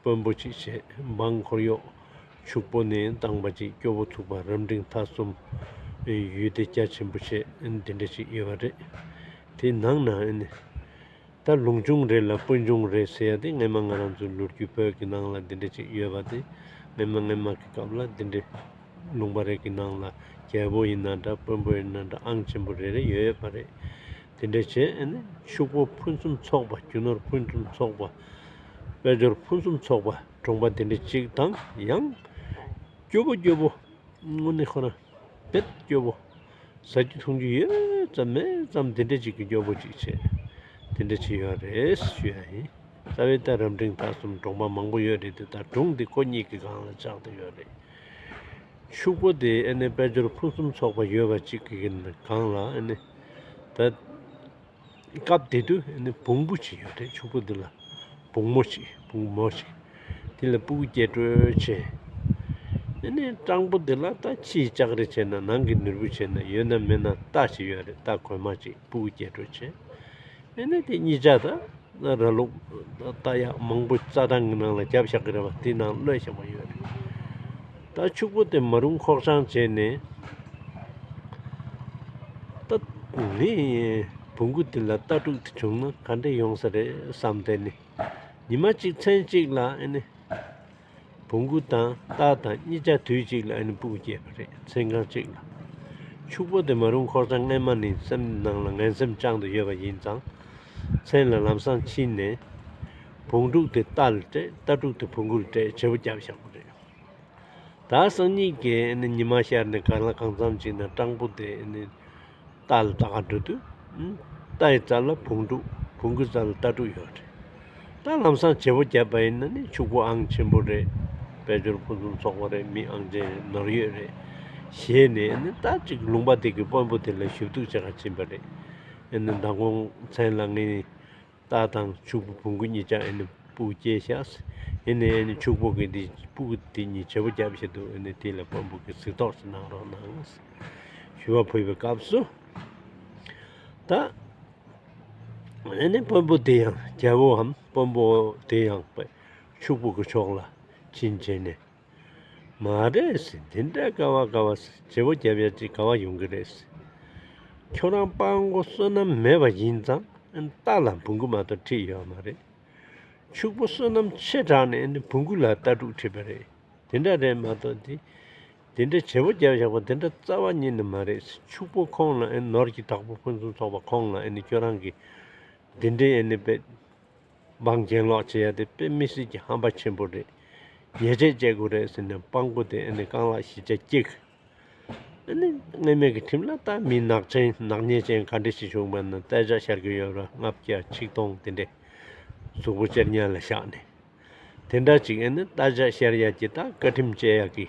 དཔོན་པོ་གཅིག་བྱས་འབངས་འཁོར་གཡོག། ཕྱུག་པོ་ནི་འདང་པ་གཅིག་སྐྱོ་བོ་ཐུག་པ་རབ་འབྲིང་མཐའ་གསུམ། ཡུལ་འདི་རྒྱ་ཆེན་པོ་ཆེ་འདི་འདྲ་ཅིག་ཡོད་པ་རེད། དེའི་ནང་ན་ད་ལུང་ཆུང་རེད་ལ་དཔོན་ཆུང་རེད་ཟེར་ཡ་དེ་སྔན་མ་ང་རང་ཚོའི་ལོ་རྒྱུས་བོད་ཀྱི་ནང་ལ་འདི་འདྲ་ཅིག་ཡོད་པ་དེ་སྔན་མ་སྔན་མ་གི་སྐབས་ལ་འདི་འདྲའི་ལུང་པ་རེ་གི་ནང་ལ་རྒྱལ་པོ་ཡིན་ན་འདྲ་དཔོན་པོ་ཡིན་ན་འདྲ་ཨང་ཆེན་པོ་རེ་རེ་ཡོད་པ་རེད། དེ་འདྲའི་བྱེད་ཨེ་ནི། ཕྱུག་པོ་ཕུན་སུམ་ཚོགས་པ་རྒྱུ་ནོར་ཕུན་སུམ་ཚོགས་པ། དཔལ་འབྱོར་ཕུན་སུམ་ཚོགས་པ་འབྲོང་པ་དེ་འདྲ་ཅིག་དང་ཡང། སྐྱོ་པོ་སྐྱོ་པོ་དངོས་གནས་ཁོ་ན་བེད་སྐྱོ་པོ། ཟ་རྒྱུ་འཐུང་རྒྱུ་ཡོད་ཙམ་མེད་ཙམ་དེ་འདྲ་ཅིག་གི་སྐྱོ་པོ་ཅིག་བྱེད། དེ་འདྲ་ཅིག་ཡོད་རེད་ཞུས་ཡ་ཡིན། རྩ་བའི་རྟ་རབ་འབྲིང་ད་གསུམ་འབྲོང་པ་མང་པོ་ཡོད་རེད་དེ་དག་སྒྲུང་འདི་ཁོ་གཉིས་ཀྱི་སྒང་ལ་བཅག་ཏུ་ཡོད་རེད། ཕྱུག་པོ་དེ་ཨེ་ནི་དཔལ་འབྱོར་ཕུན་སུམ་ཚོགས་པ་ཡོད་པ་ཅིག་ཡིན་གང་ལ་ཨེ་ནི། ད། སྐབས་དེ་དུས་ཨེ་ནི་བུང་བུ་ཅིག་ཡོད་དུས་ཕྱུག་པོ་འདི་ལ། བུང་མོ་ཅིག་བུང་མོ་ཅིག། དེ་ལ་སྤུ་གུ་སྐྱེས་སྤྲོད་བྱས། ཨེ་ནི་སྤྲང་པོ་འདི་ལ་ད་ཕྱིའི་ལྕགས་རི་བྱས་ན་ནང་གི་ནུར་བུ་བྱས་ན་ཡོད་ན་མེད་ན་རྟ་ཅིག་ཡོད་རེད་རྟ་གོན་མ་ཅིག་སྤུ་གུ་སྐྱེས་སྤྲོད་བྱས། དེ་ནས་དེ་གཉིས་ཆ་དང་ར་ལུག་རྟ་ཡག་མང་པོ་རྩྭ་ཐང་གི་ནང་ལ་བརྒྱབ་བཞག་གི་རེད་པ་དེའི་ནང་གློད་བཞག་པ་ཡོད་རེད་ད་ཕྱུག་པོ་དེ་མ་རུང་ཁོག་བྱང་བྱས་ནས་རྟ་ནི་བུ་གུ་དེ་ལ་རྟ་ཕྲུག་དེ་བྱུང་ན་ག་འདྲ་ཡོང་ས་རེད་བསམ་དེ་ནི་ཉི་མ་གཅིག་མཚན་གཅིག་ལ་ཨེ་ནི་བུ་མགུ་དང་སྟག་དང་གཉིས་ཆ་དུས་གཅིག་ལ་ཨ་ནི་སྤུག་སྐྱེས་པ་རེད་ཚེ་གང་གཅིག་ལ། ཕྱུག་པོ་དེ་མ་རུང་ཁོག་ཚ་རྔན་མ་ནི་སེམས་ནང་ལ་ངན་སེམས་བཅང་དུ་ཡོད་པ་ཡིན་ཙང། མཚན་ལ་ལམ་སང་ཕྱིན་ནས། བུང་ཕྲུག་དེ་རྟ་ལ་སྤྲད་རྟ་ཕྲུག་དེ་བུ་མགུ་ལ་སྤྲད་བྱེད་པོ་བརྒྱབ་བཞག་པ་རེད། ད་སང་གཉིས་ཀས་ཨ་ནི་ཉི་མ་ཤར་ནས་ག་ལ་གང་འཚམ་ཅིག་ན་སྤྲང་པོ་དེ་ཨ་ནི། རྟ་ལ་རྟ་ག་འབྲུ་དུ། རྟ་ཡི་རྩ་ལ་བུང་སྤྲུག་བུང་གི་རྩ་ལ་རྟ་སྤྲུག་ཡོད་རེད། རྟ་ལམ་སང་བྱེད་པོ་བརྒྱབ་པ་ཡིན་ན་ནི་ཕྱུག་པོ་ཨང་ཆེན་པོ་རེད། དཔལ་འབྱོར་ཕུན་སུམ་ཚོགས་པོ་རེད་མི་ཨང་ཅན་རེད་ནོར་ཡོད་རེད། ཞེས་ནས་ནི་རྟ་གཅིག་ལུང་པ་དེ་གི་དཔོན་པོ་དེ་ལ་ཞུ་གཏུགས་བྱེད་ག་ཕྱིན་པ་རེད། ནི་ཟླ་འགོང་མཚན་ལ་ངས་རྟ་དང་ཕྱུག་པོ་བུང་གི་གཉིས་ཀྱང་སྤུ་སྐྱེས་ཤགས། ཕྱུག་པོ་གི་འདི་སྤུ་དེ་གཉིས་བྱེད་པོ་རྒྱབ་བཞིན་འདུག་དེ་ལ་དཔོན་པོ་གི་གཟིགས་རྟོགས་སུ་གནང་རོགས་གནང། ཞུ་བ་ཕུལ་བའི་སྐབས་སུ། ད། དཔོན་པོ་དེ་ཡང་རྒྱལ་པོའམ་དཔོན་པོ་དེ་ཡང་ཕྱུག་པོ་གི་ཕྱོགས་ལ་བྱིན་བྱས་ནས། མ་རེད་དེ་འདྲ་དཀའ་བ་དཀའ་བ་བྱེད་པོ་རྒྱབ་ཡ་ཅིག་ག་བ་ཡོང་གི་རེད། ཁྱོད་རང་དཔའ་མགོ་བསོད་ནམས་མེད་པ་ཡིན་ཙང་རྟ་ལ་འབུ་འགུ་མ་གཏོགས་ཁྲིད་ཡོད་མ་རེད། ཕྱུག་པོ་བསོད་ནམས་ཆེ་དྲགས་ནས་འབུ་འགུ་ལ་རྟ་ཕྲུག་ཁྲིད་པ་རེད་དེ་འདྲ་རེད་མ་གཏོགས་དེ་དེ་འདྲ་བྱེད་པོ་རྒྱབ་བཞག་པ་དེ་འདྲ་རྩ་བ་ཉིད་ནས་མ་རེད་ཕྱུག་པོ་ཁོང་ལ་ནོར་གྱི་དྲག་པོ་ཕུན་སུམ་ཚོགས་པ་ཁོང་ལ་ཁྱོད་རང་གིས་དེ་འདྲའི་དཔེ། སྦང་གྱེན་ལོག་བྱེད་ཡ་དེ་དཔེ་མི་སྲིད་ཀྱི་ཧམ་པ་ཆེན་པོ་རེད། ཉེས་ཆད་བཅད་དགོས་རེད་ཟེར་ནས་སྤང་པོ་དེ་ཨེ་ནི་རྐང་ལག་བཞི་ཆ་སྐྱེ་གི། ཨེ་ནི་སྔས་མེད་ཀྱི་ཁྲིམས་ལ་ལྟ་མི་ནག་ཅན་ནག་ཉེས་ཅན་ག་འདྲི་ཞིག་བྱུང་བ་ན་བཙལ་བྱ་ཤར་གྱི་ཡོད་ར་ལྔ་བརྒྱ་ཆིག་སྟོང་དེ་འདྲས་གཟུགས་པོ་གཅེར་གཉལ་ལ་བཞག་ནས་དེ་འདྲ་ཅིག་ཨེ་ནི་བལྟ་བྱ་ཤར་ཡ་གྱི་ད་བཀའ་ཁྲིམས་བཅད་ཡ་གི།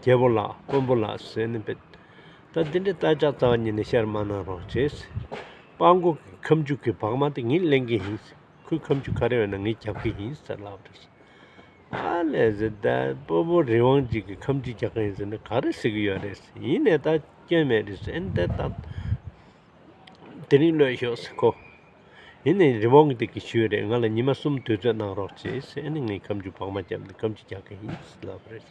རྒྱལ་པོ་ལགས་དཀོན་པོ་ལགས་ཟེར་ནས་འབོད། ད་འདི་འདྲའི་རྟ་ལྕག་ཙག་གཉིས་ནི་བཤར་མ་གནང་རོགས་ཅེས། དཔའ་མགོ་གི་ཁབ་མཇུག་གི་བག་མ་དེ་ངས་གླེང་གི་ཡིན། ཁོའི་ཁབ་མཇུག་ཁ་རལ་བས་ན་ངས་རྒྱབ་ཀྱི་ཡིན་ཟེར་ལབ་རེད། ཨ་ལས་ཟེར་ད་སྤོ་བོ་རི་དབང་འཇིགས་ཀྱི་ཁབ་མཇུག་རྒྱག་གི་ཡིན་ཟེར་ན་ག་རེ་ཟེར་གི་ཡོད་རེད། ཡིན་ནས་ད་སྐྱོན་མེད་རེད་ཟེར་ཨེ་འདོད་ད། དེ་རིང་གློད་ཤོག་ཟེར་ཁོ། ཡིན་ནས་རི་དབང་གི་དེ་གི་ཞུས་རེད་ང་ལ་ཉི་མ་གསུམ་དུས་ཚོད་གནང་རོགས་ཅེས་ཨ་ནི་ངས་ཁབ་མཇུག་བག་མ་བརྒྱབ་ནས་ཁབ་མཇུག་རྒྱག་གི་ཡིན་ཟེར་ལབ་རེད།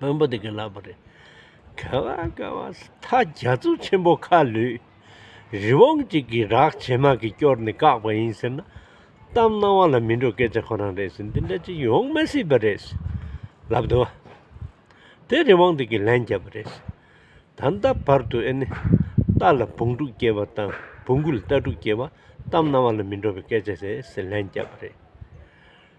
བོན་པོ་དེ་གི་ལབ་པ་རེད། ག་བ་ག་བ་ད་རྒྱ་མཚོ་ཆེན་པོ་ཁ་ལུས། རི་བོང་གཅིག་གི་རག་བྱེད་མ་གི་སྐྱོར་ནས་བཀག་པ་ཡིན་ཟེར་ན། གཏམ་སྣང་བ་ལ་མི་འགྲོ་སྐད་ཆ་ཁོ་རང་རེད་ཟེར་འདི་འདྲ་ཅིག་ཡོང་མི་སྲིད་པ་རེད། ལབ་དུ་བ། དེ་རི་བོང་དེ་གི་ལན་བརྒྱབ་པ་རེད། ད་ལྟ་བར་དུ་ཨེ་ནི། རྟ་ལ་བུང་ཕྲུག་སྐྱེ་བ་དང་བུང་གུ་ལ་རྟ་ཕྲུག་སྐྱེ་བ། གཏམ་སྣང་བ་ལ་མི་འགྲོ་བའི་སྐད་ཆ་རེད་ཟེར་ལན་བརྒྱབ་པ་རེད།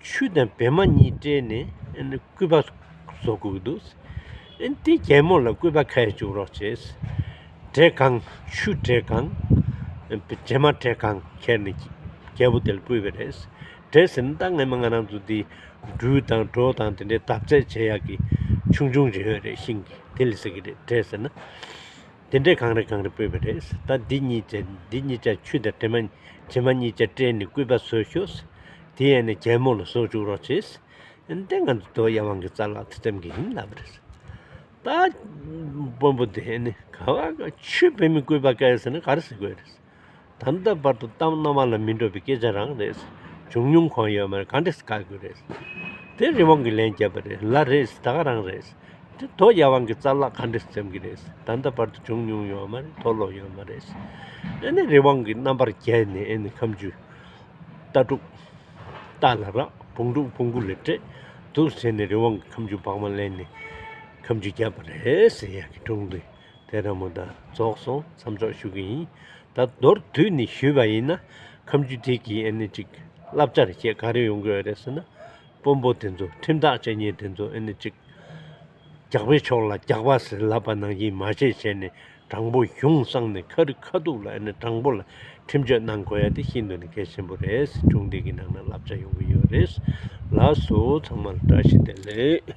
ཆུ་དང་བེ་མ་གཉིས་སྤྲེལ་ནས་སྐུད་པ་བཟོ་དགོས་འདུག་དེ་རྒྱལ་མོ་ལ་སྐུད་པ་ཁ་ཡར་བཅུག་རོགས་བྱས། བྲེ་གང་ཆུ་བྲེ་གང་བྲེ་མ་བྲེ་གང་ཁྱེར་ནས་རྒྱལ་པོ་དེ་ལ་བསྐུས་པས་རེད། བྲེ་ཟེར་ནི་ད་ངེད་མ་ང་རང་ཚོ་འདི་སྦྲུལ་དང་གྲོ་དང་དེ་འདྲའི་འདབ་རྫས་བྱེད་ཡག་གི་ཆུང་ཆུང་རེད་རེད་ཤིང་གི་དེ་ལས་ཟེར་གི་རེད་བྲེ་ཟེར་ན། དེ་འདྲས་གང་རེ་གང་རེ་སྤོས་པ་རེད། ད་འདི་གཉིས་ཅན་འདི་གཉིས་ཅན་ཆུ་དང་དྲི་མ། དྲི་མ་གཉིས་ཅན་སྤྲེལ་ནས་སྐུད་པ་བཟོས་ཤོག། དེ་ཡན་ནས་རྒྱལ་མོ་ལ་བཟོ་བཅུག་རོགས་བྱས། དེ་ང་ཚོ་དོལ་ཡ་དབང་གི་རྩ་ལག་ཏུ་བཙན་གྱིས་ཡིན་ལབ་རེད། ད་དཔོན་པོ་དེས་ནི་ག་བ་ག་ཆུ་བེད་མི་སྐུད་པ་བཀལ་ཟེར་ན་ག་རེ་ཟེར་དགོས་རེད། དམ་ད་བར་དུ་གཏམ་རྣོ་མ་ལ་མི་འགྲོ་བའི་སྐད་ཆ་རང་རེད། བྱུང་མྱོང་གང་ཡོད་མ་རེད་ག་འདྲས་བཀག་དགོས་རེད། དེ་རི་བོང་གིས་ལན་བརྒྱབ་པ་རེད་ལ་རེད་ད་ག་རང་རེད། དེ་དོ་ཡ་བང་གི་རྩ་ལག་ག་འདྲས་འཛེམ་གི་རེད་དམ་ད་བར་དུ་བྱུང་མྱོང་ཡོད་མ་རེད་དོ་ལོག་ཡོད་མ་རེད། ཨེ་ནི་རི་བོང་གི་རྣམ་པར་རྒྱལ་ནས་ཨེ་ནི་ཁམ་ཆུ། རྟ་དྲུག། རྟ་ལ་རག་བོང་དྲུག་བོང་གུ་ལས་སྤྲད་འདུག་ཟེར་ནས་རི་བོང་གིས་ཁམ་ཆུ་བག་མ་གླན་ནས་ཁམ་ཆུ་བརྒྱབ་པ་རེད་ཟེར་ཡག་གི་སྒྲུང་རེད། དེ་ར་མོ་ད་རྫོགས་སོང་མཚམས་འཇོག་ཞུ་གི་ཡིན། ད་མདོར་བསྡུས་ནས་ཞུས་པ་ཡིན་ན་ཁམས་རྒྱུད་སྡེ་དགེའི་ཨེ་ནི་ཅིག་བསླབ་བྱར་བཤད་ག་རེ་ཡོང་གི་ཡོད་རེད་ཟེར་ན། དཔོན་པོ་དེ་ཚོ་ཁྲིམས་ཐག་བཅད་ཉེན་དེ་ཚོ་ཨེ་ནི་ཅིག་རྒྱག་པའི་ཕྱོགས་ལ་རྒྱག་པ་ཟེར་ལབ་པ་ནང་བཞིན་མ་བྱས་བྱས་ནས་དྲང་པོ་གཞུང་བསྲང་ནས་ཁ་རི་ཁ་ཐུག་ལ་ཨེ་ནི་དྲང་པོ་ལ་ཁྲིམས་གཅོད་གནང་གོ་ཡ་དེ་ཤིན་ཏུ་ནས་གལ་ཆེན་པོ་རེད་སི་ཁྲོན་སྡེ་དགེ་ནང་ན་བསླབ་བྱ་ཡོང་གི་ཡོད་རེད་ལགས་སོ་ཚང་མར་བཀྲ་ཤིས་བདེ་ལེགས།